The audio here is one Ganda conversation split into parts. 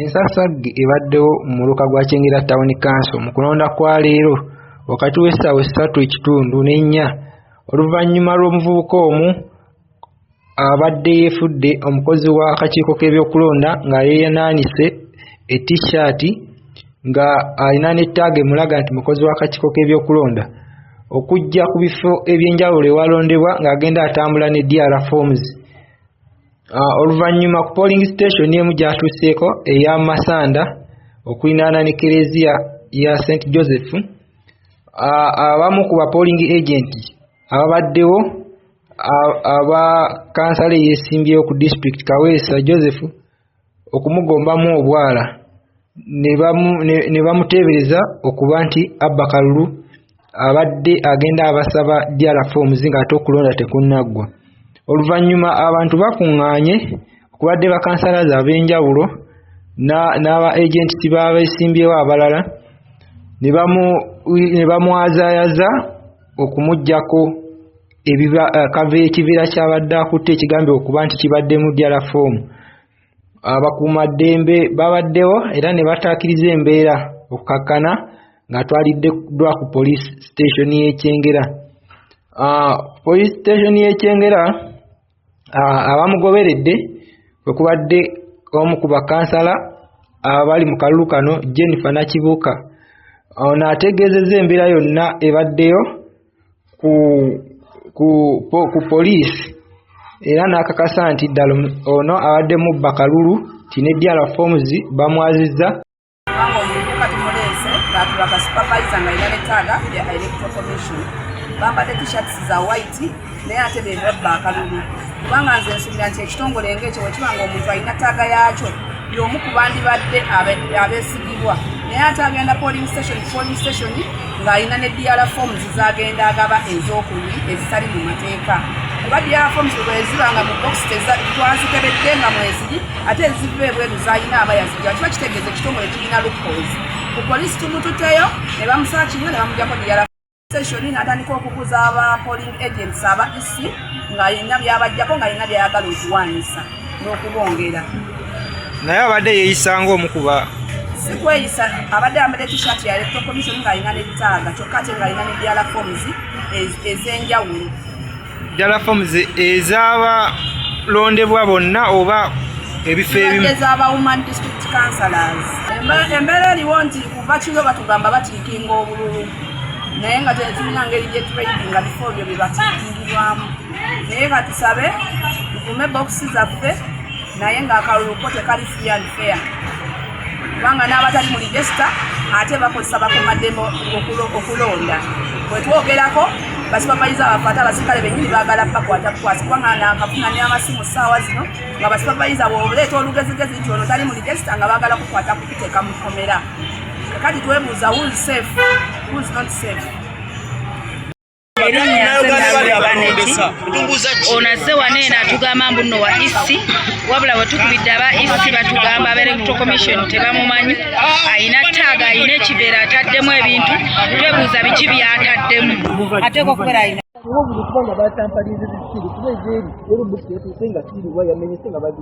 Ensasagge ebaddewo mu muluka gwa Kyengera Town Council mu kulonda kwa leero wakati w'essaawa essatu ekitundu n'ennya oluvannyuma lw'omuvubuka omu abadde yeefudde omukozi w'akakiiko k'ebyokulonda nga yeeyanaanise e T-shirt nga alina ne ttaaga emulaga nti mukozi w'akakiiko k'ebyokulonda okujja ku bifo eby'enjawulo ewalondebwa ng'agenda atambula ne DR Forms. Ah, oluvannyuma ku polling station emu gyatuuseeko eya masanda okulinaana ne kereziya ya st joseph ah, abamu ku bapolling agent ababaddewo ah, aba kansala eyesimbyewo ku district kaweesa joseph okumugombamu obwala ne bamuteebereza okuba nti abba kalulu abadde agenda abasaba drf omuzinga ate okulonda tekunnaggwa oluvannyuma abantu bakuŋŋaanye okubadde bakansalaza ab'enjawulo n'aba agenti baabeesimbyewo abalala ne bamwazayaza okumugyako ebiba eh, kave ekiviira kyabadde akutte ekigambe okuba nti kibaddemu jala foomu abakuuma ddembe babaddewo era ne bataakiriza embeera okukakkana ng'atwaliddwa ku poliisi siteeshoni y'ekyengera ah, poliisi siteeshoni y'ekyengera abamugoberedde kwe kubadde omu ku bakansala abali mu kalulu kano jennifer nakibuuka ono ategeezezza embeera yonna ebaddeyo ku, ku, ku, ku poliisi era n'akakasa nti ddala ono abadde mubba kalulu ti ne dr forms bamwazizza Mama omuvubuka tumuleese baatula ka supervisa nga yina netaaga ya electoral commission bambadde t-shirts za white naye ate bebabba akalulu kubanga nze nsubira nti ekitongole ngaekyo wekiba nga omuntu alina taaga yaakyo y'omu ku bandibadde abeesigibwa naye ate agenda polling station polling station ng'alina ne diara forms zagenda agaba ez'okuyi ezitali mu mateeka kuba diara forms bweziba nga mu box twazikebedde nga mweziri ate eziva ebweru zalina aba yazijja kiba kitegeeza ekitongole kirina loopholes ku poliisi tumututeyo ne bamusala kimu ne bamujjako diyala seshoni n'atandika okubuza aba polling agents aba ec ng'alina byabajjako ng'alina byayagala okuwaanyisa n'okubongera naye abadde yeeyisa ng'omukuba sikweyisa abadde ambadde tishat ya electoral commission ng'alina n'ettaaga kyokka ate ng'alina ne diyala forms ez'enjawulo ddala forms ezaba londebwa bonna oba ebifo ebimu embeera eriwo nti kuva kiro batugamba batiikinga obululu naye nga tetulina ngeri gyetulaibi nga bifo byo byebatiikingirwamu naye katusabe tukume bokisi zaffe naye ng'akalulu ko tekali free and fair kubanga n'abatali mu ligesita ate bakozesa bakumaddembe okulonda bwetwogerako basupavayiza baffe ate abasirikale benyini bagala bakwata bukwasi kubanga nakafuna ne amasimu saawa zino nga basupavayiza bwoleeta olugezigezi nti ono tali mu ligesita nga bagala kukwata kukuteeka mu kkomera kati twebuuza who's safe who's not safe ono azze wano eno atugamba mbu nno wa isi wabula wetukubidde aba isi batugamba aba electro commission tebamumanyi ayina taaga ayina ekibeera ataddemu ebintu twebuuza biki byataddemu ateekwa okubeera ayina kuba buli kubanga batampaliza ekisiru kuba ezeeri eri busi etuuse nga kiriwa yamenyese nga bagi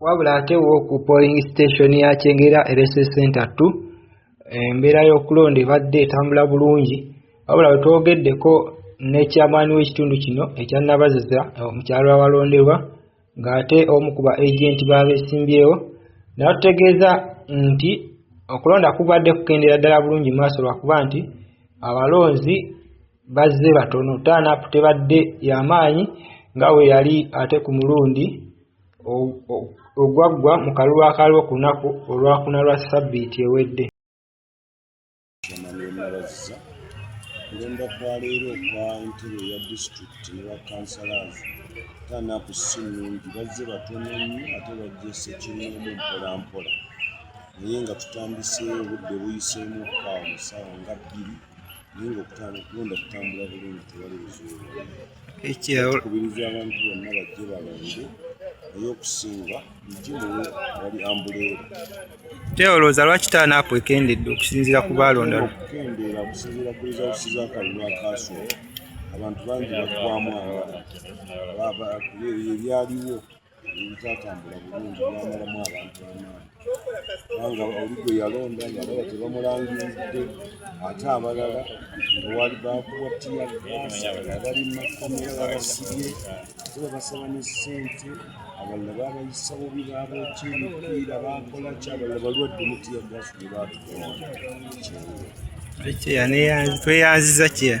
wabula ate wo ku polling station ya kyengera electoral center 2 embeera y'okulonda ebadde etambula bulungi wabula wetwogeddeko ne chairman w'ekitundu kino ekya nabaziza omukyalo awalonderwa ng'ate omu ku ba agenti b'abesimbyewo natutegeeza nti okulonda kubadde kukendeera ddala bulungi maaso lwakuba nti abalonzi bazze batono tanup tebadde yamaanyi nga we yali ate ku mulundi ogwaggwa mu kalulu akaliwo ku lunaku olwakuna lwa sabbiiti ewedde kulonda kwa leero okwa ntebe ya disitulikiti ne bakansalazi tanaku si nungi bazze batono nnyo ate bajjese kimumu mpolampola naye nga tutandise obudde buyiseemu kaawo saawa nga bbiri naye ngaokulonda kutambula bulungi tewali buzibu kubiriza abantu bonna bajje balonde naye okusinga ntimu wali ambuleero teolooza lwaki taanaapo ekendedde okusinziira ku baalonda okukendeera okusinziira ku rizawusi z'akalulu akaasooka abantu bangi baggwamu abalala kuba ebyo ebyaliwo tatambula bulungi yamalamu abantu banaanga oli gwe yalonda ngalaba tebamulangiridde ate abalala ngawaali bakuwa tiyaabali makomera babasibye ate babasaba ne ssente abalala babayisa bubi baboki emipiira bakola ki abalala balwadde mutiya gasi ne batukola tweyanziza kyeya